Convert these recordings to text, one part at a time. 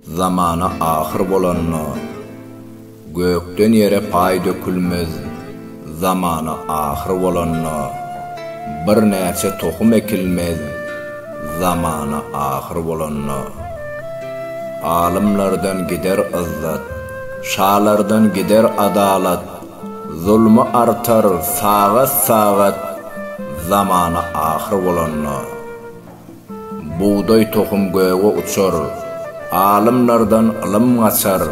Zamana ahyr bolanda, Gökden ýere paý dökülmez, Zamana ahyr bolanda, Birnäçe tohum ekilmez, Zamana ahyr bolanda. Alymlardan gider yzzat, Şalardan gider adalat, Zulmy artar sagat-sagat, Zamana ahyr bolanda. Bugdaý tohum göge uçar, Alymlardan ylym gaçar,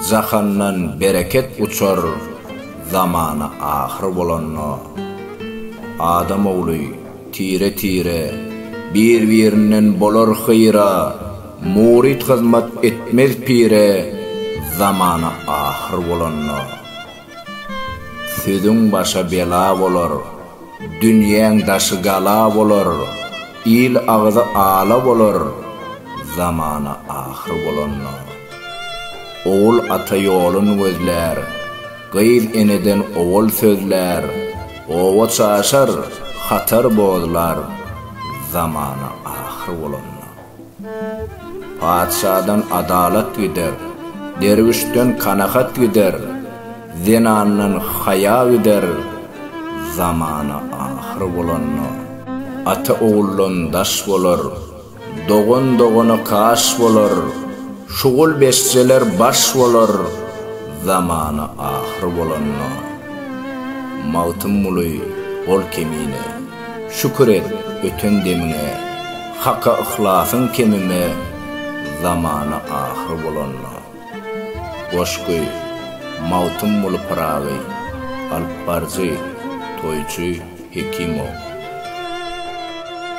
Jahandan bereket uçar, Zamana ahyr bolanda. Adam ogly, tire-tire, Bir-birinden bolar hyýra, Muryt hyzmat etmez pire, Zamana ahyr bolanda. Sözüň başa bela bolar, dünýäň daşy gala bolar, il agzy ala bolar, zamana ahyr bolanda. Ogul ata ýolun gözlär, gyz eneden owal sözlär, oba çaşar, hatar bozlar, zamana ahyr bolanda. Patyşadan adalat gider, derwüşden kanagat gider, zenandan haýa gider, zamana ahyr bolanda, ata oguldan daş bolar, dogan dogana kaş bolar, şugul beşjeler baş bolar, zamana ahyr bolanda. Magtymguly, Ol kemine. Şükür et öten demiňe, Haka yhlasyň kemime, Zamana ahyr bolanda. Goşgy, Magtymguly Pyragy, alypbaryjy, toýçy Hekimow.